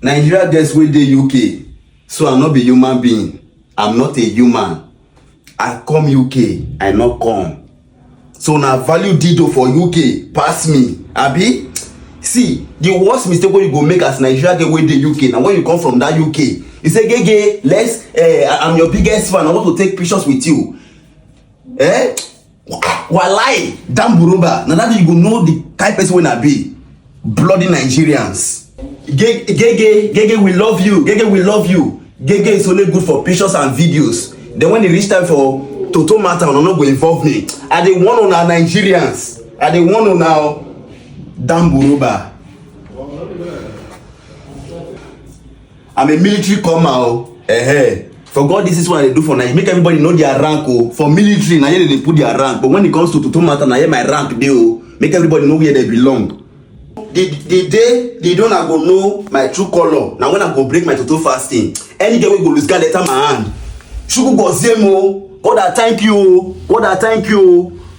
Nigeria girls wey dey UK so I no be human being I'm not a human I come UK I no come so na value dido for UK pass me abi see the worst mistake wey you go make as Nigeria girl wey dey UK na when you come from that UK you say gege let's uh, I'm your biggest fan I want to take pictures with you eh Walai, damn Buruba. Now that you go know the type of person when I be. Bloody Nigerians. Gege, Gege, Gege, we love you. Gege, we love you. Gege is only good for pictures and videos. Then when it reach time for Toto matter, no go involve me. I dey one on our Nigerians. I dey one on our damn Buruba. I'm a military comer o. Ehe. For God, this is what I do for Nigeria. Make everybody know their rank o. For military, na here they put their rank. But when it comes to Tutu matter, na here my rank dey o. Make everybody know where they belong. the the day the day una go know my true colour na when i go break my toto fasting any girl wey go lose guard enter my hand chukwu gozie mo god i thank you o god i thank you o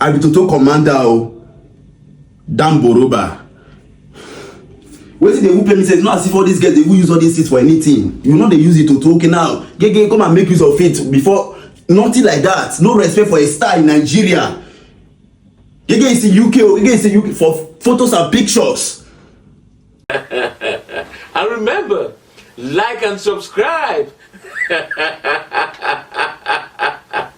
I be Toto commander o. Damboroba. Wetin dey who pay me say not as if all these girls dey who use all these things for anything. You no dey use it Toto okay now. Gege come and make use of it before nothing like that. No respect for a star in Nigeria. Gege is in UK o. Gege is in UK for photos and pictures. and remember, like and subscribe.